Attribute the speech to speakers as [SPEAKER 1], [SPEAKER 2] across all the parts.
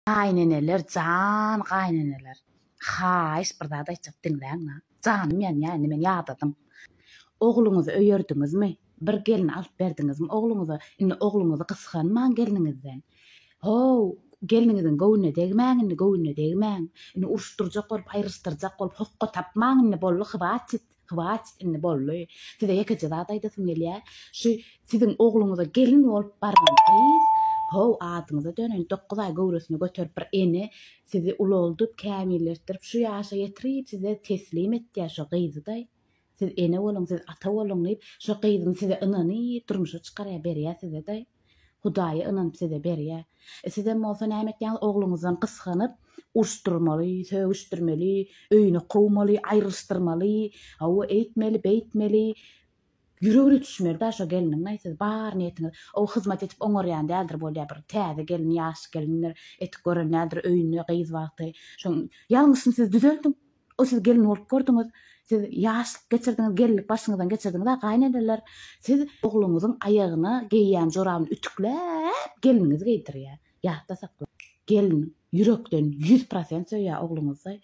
[SPEAKER 1] Gaýneneler jan gaýneneler haýyş bir zat aýtjak diňläňä janym ýanýa indi men ýadadym ogluňyzy öýerdiňizmi bir gelin alyp berdiňizmi ogluňyza indi ogluňyzy gysganmaň gelniňizden how gelniňiziň göwnüne degmäň indi göwnüne degmäň indi uruşdyrjak bolup aýryşdyrjak bolup hokga tapmaň indi boldy hwatit Hwatit indi boldy. Size ýekeje zat aýdasym gelýär. Şu siziň ogluňyza gelin bolup baran gyz, how, adyňyza döneýin, dokuz aý göwresine göterip bir ene sizi ulaldyp, kämilletdirip, şu ýaşa ýetirip size teslim etýär şo gyzy-daý. Siz ene boluň, siz ata boluň diýip, şo gyzyny size ynanyp, durmuşa çykarýar, berýär size-daý. Hudaýa ynanyp size berýä. Sizem bolsa näme etýäňiz ogluňyzdan gysganyp, urşdyrmaly, sögüşdirmeli, öýüne kowmaly, aýrylyşdyrmaly, hawa eýtmeli, beýtmeli, ýüregine düşmeli da şo gelniňeý siz bar niýetiňiz o hyzmat edip oňarýan däldir bolýa bir täze gelin ýaş gelindir etip gören däldir öýünde gyz wagty şoň ýalňyşyny siz düzeldiň O siz gelin bolup gördüňiz, siz ýaşlyk geçirdiňiz, gelinlik başyňyzdan geçirdiňiz-ä, gaýyneneler, siz ogluňyzyň aýagyna geýýän jorabyny ütükläp gelniňiz geýdirýär. Ýatda sakla, gelin ýürekden ýüz prosent söýýär ogluňyzy,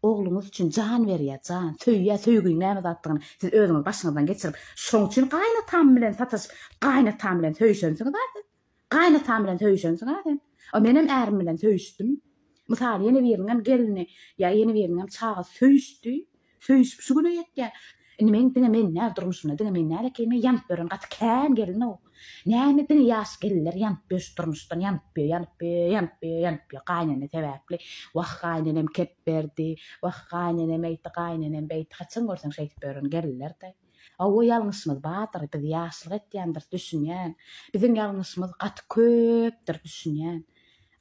[SPEAKER 1] ogluňyz üçin jan berýär, jan, söýýär, söýginiň näme zatdygyny siz özüňiz başyňyzdan geçirip, şoň üçin gaýynatam bilen sataşyp, gaýynatam bilen söýşensiňiz-ä siz. Gaýynatam bilen söýüşensiň-ä sen. A menem ärim bilen söýüşdim. Mysal, ýene biriniňem gelni ýa ýene biriniňem çagasy söýüşdi. Söýüşip şu güne ýetýär. Indi men diňe men däl durmuşymda diňe men däl ekeni ýanyp ýören gaty kän gelin-ow. Näme diňe ýaş gelinler ýanyp ýör şu durmuşdan ýanyp ýör ýanyp ýör ýanyp ýör ýanyp ýör gaýynene sebäpli. Wah gaýynenem kep berdi. Wah gaýynenem eýti gaýynenem beýti haçan görseň şeýdip ýören gelinler-de. Hawa ýalňyşymyz bardyr biz ýaşlyk etýändiris düşünýän biziň ýalňyşymyz gaty köpdir düşünýän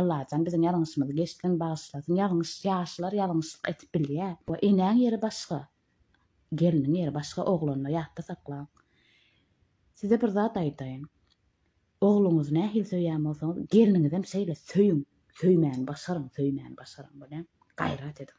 [SPEAKER 1] Allajan biziň ýalňyşymyzy geçsin bagyşlasyn ýalňyş ýaşlar ýalňyşlyk edip bilýä we enäň ýeri başga gelniň ýeri başga oglanyny ýatda saklaň size bir zat aýdaýyn ogluňyzy nähili söýýän bolsaňyz gelniňizem şeýle söýüň söýmäni başaryň söýmäni başaryň bolýamy gaýrat ediň.